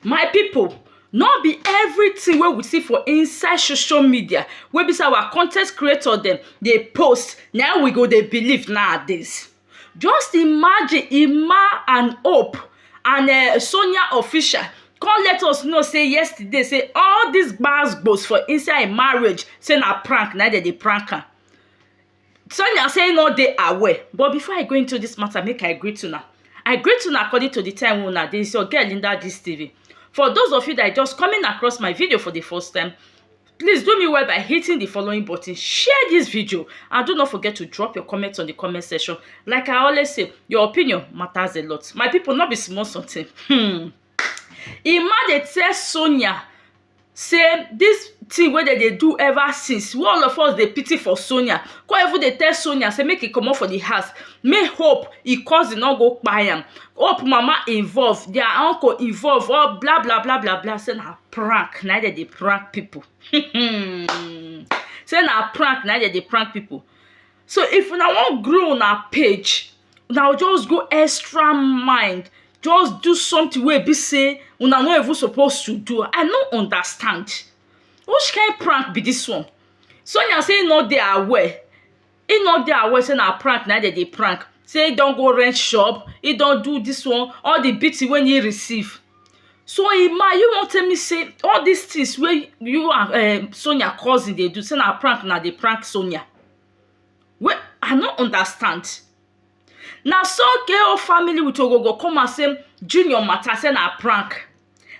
My pipu, no be everything wey we see for inside social media wey be sey our con ten t creator dem dey post na im we go dey believe nowadays. Just imagine Emma and Hope and um Sonia Official come let us know sey yesterday sey all dis gbas gbos for inside im marriage sey na prank na im dem dey prank am. Sonia say im no dey aware but before I go into this matter make I greet una. I greet una according to the time wey una dey. It's your girl Linda Gist TV. For those of you that are just coming across my video for the first time, please do me well by hitting the following button, share this video and do not forget to drop your comments on the comment section. Like I always say, your opinion matters a lot. My people, no be small something. Hmm. Emma dey tell Sonia sey dis thing wey dem dey do ever since wey all of us dey pity for Sonia con even dey tell Sonia sey make e comot for the house make hope him cousin no go kpai am hope mama involve their uncle involve all bla bla bla bla bla sey na prank na im dem dey prank people um sey na prank na im dem dey prank people so if una wan grow una page una go just go extra mile just do something wey e be sey una no even suppose to do i no understand which kind prank be dis one sonia say him no dey aware him no dey aware sey na prank na him dem dey prank sey him don go rent shop him don do dis one all the beating wey him receive So Emma you wan tell me sey all dis things wey you and um Sonia cousin dey do sey na prank una dey prank Sonia? Wait I no understand na so okay o family with ogbogo come out sey Junior matter sey na prank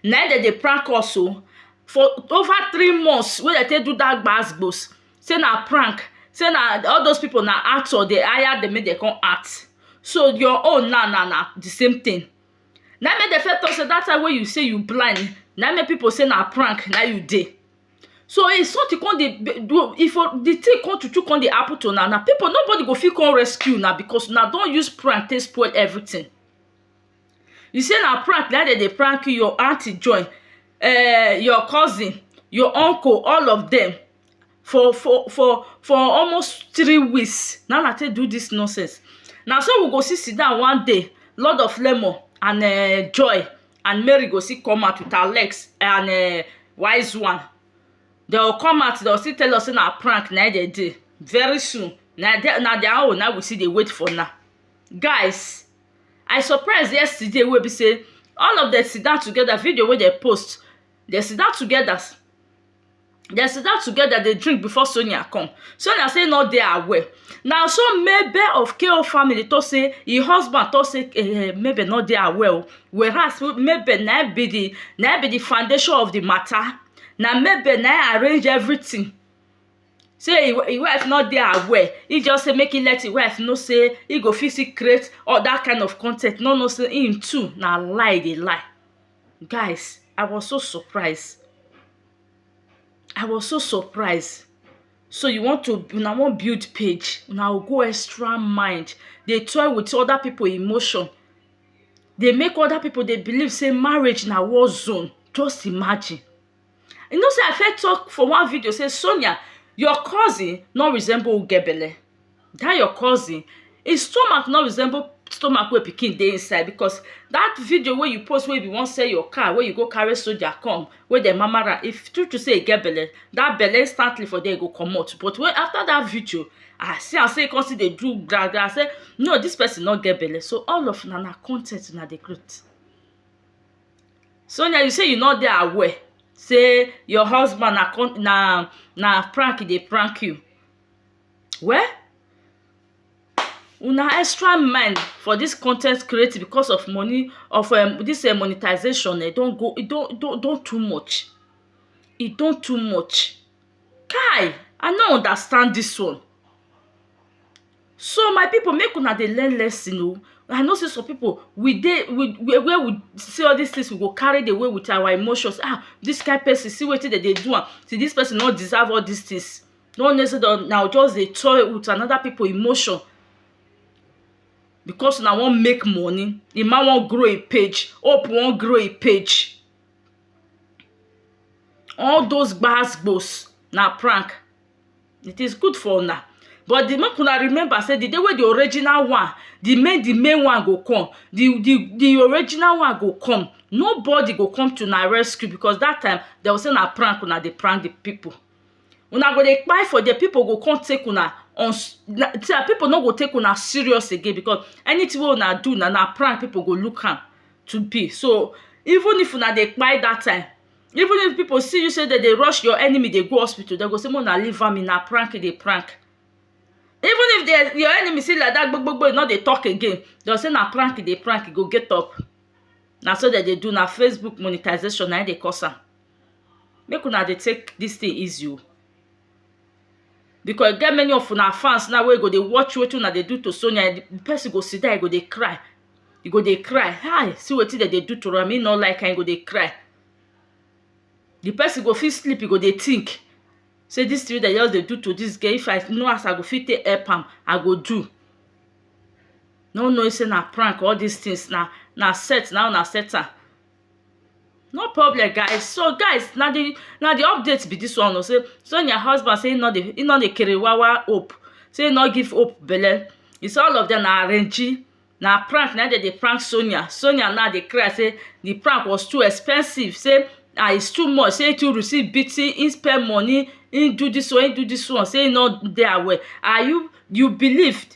na im dem dey prank us o for over three months wey dem take do dat gbas gbos sey na prank sey na all those people na actor dey hire dem make dem come act so your own now na na the same thing na im make dem first talk say that time wey you say you blind na im make people say na prank na im you dey so if something come dey do if for the thing come true true come dey happen to una now people nobody go fit come rescue una because una don use prank take spoil everything you say na prank na im dem dey prank you your aunty join um your cousin your uncle all of them for for for for almost three weeks na im i take do dis nonsense na so we go still sit down one day lord of lemon and um joy and mary go still come out with her legs and um wise one dey go come out dey go still tell us sey na prank na im dey dey very soon na dia na dia own na im we still dey wait for now guys i surprise yesterday wey be sey all of dem sit down together video wey dem post dem sit down together dem sit down together dey drink before Sonia come. Sonia say e no dey aware. Na so Mabel of KO family talk say im husband talk say um Mabel no dey aware o. Whereas Mabel na im be the na im be the foundation of the matter. Na Mabel na im arrange everything. Say e e wife no dey aware. Im just say make im let im wife know say im go fit still create other kind of con ten t, no know say im too na lie e dey lie. guys I was so surprised I was so surprised so you want to una wan build page una go go extra mile dey toy with other people emotion dey make other people dey believe sey marriage na war zone just imagine You know sey I first talk for one video sey Sonia your cousin no resemble who get belle. Dat your cousin, im stomach no resemble stomach wey pikin dey inside because dat video wey you post wey you be wan sell your car wey you go carry soldier come, wey dem mama am. If true true sey e get belle, dat belle instantly for there e go comot. But when after dat video, I see am sey e con still dey do gra gra sey no dis person no get belle. So all of una na con ten t una dey create. Sonia you say you no dey aware sey your husband na con na na prank e dey prank you. Well una extra mind for dis con ten t creating because of money of um dis um monetization um don go e don don don too much, e don too much. Kai! I no understand dis one. So my pipu make una dey learn lesson oh, I know sey some pipu we dey we where we see all dis things we go carry dey go with our emotions ah dis kain person see wetin dem dey do am see dis person no deserve all dis things no know sey una go just dey toy with another pipu emotion because una wan make money, de man wan grow im page, hope wan grow im page all those gbas gbos na prank. it is good for una but the make una remember say the day wey the original one the main the main one go come the the the original one go come nobody go come to una rescue because that time dem go say na prank una dey prank the people una go dey kpai for there people go come take una on na so that people no go take una serious again because anything wey una do na na prank people go look am to be so even if una dey kpai that time even if people see you say dem dey rush your enemy dey go hospital dem go say make una leave am na prank e dey prank even if dem your enemy see like that gbog gbog gbog e no dey talk again dem go say na prank e dey prank e go get up na so dem dey do na facebook monetization na im dey cause am make una dey take this thing easy o because e get many of una fans now wey go dey watch wetin una dey do to sonia the person go sit down e go dey cry e go dey cry hi see wetin dem dey do to am e no like am e go dey cry the person go fit sleep e go dey think say this thing wey dem just dey do to this girl if i know as i go fit take help am i go do no knowing say na prank all this things na na set na him una set am no problem guys so guys na the na the update be this one o say Sonia husband say he no dey he no dey kerewawa hope say he no give hope belle he say all of them na arrangee na prank na him dem dey prank Sonia Sonia now dey cry say the prank was too expensive say and it's too much say he too receive beating he spend money he do this one he do this one say he no dey aware and you you believed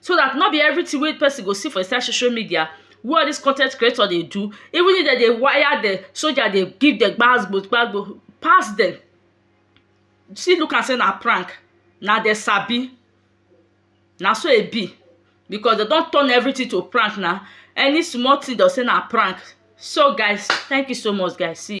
so dat nor be everytin wey person go see for inside social media wey all dis con ten t creator dey do even if dem dey wire dem soldier dey give dem gbas gbos gbas gbos pass dem still look am sey na prank na dem sabi na so e be because dem don turn everytin to prank na any small tin dem go sey na prank so guys thank you so much guys see you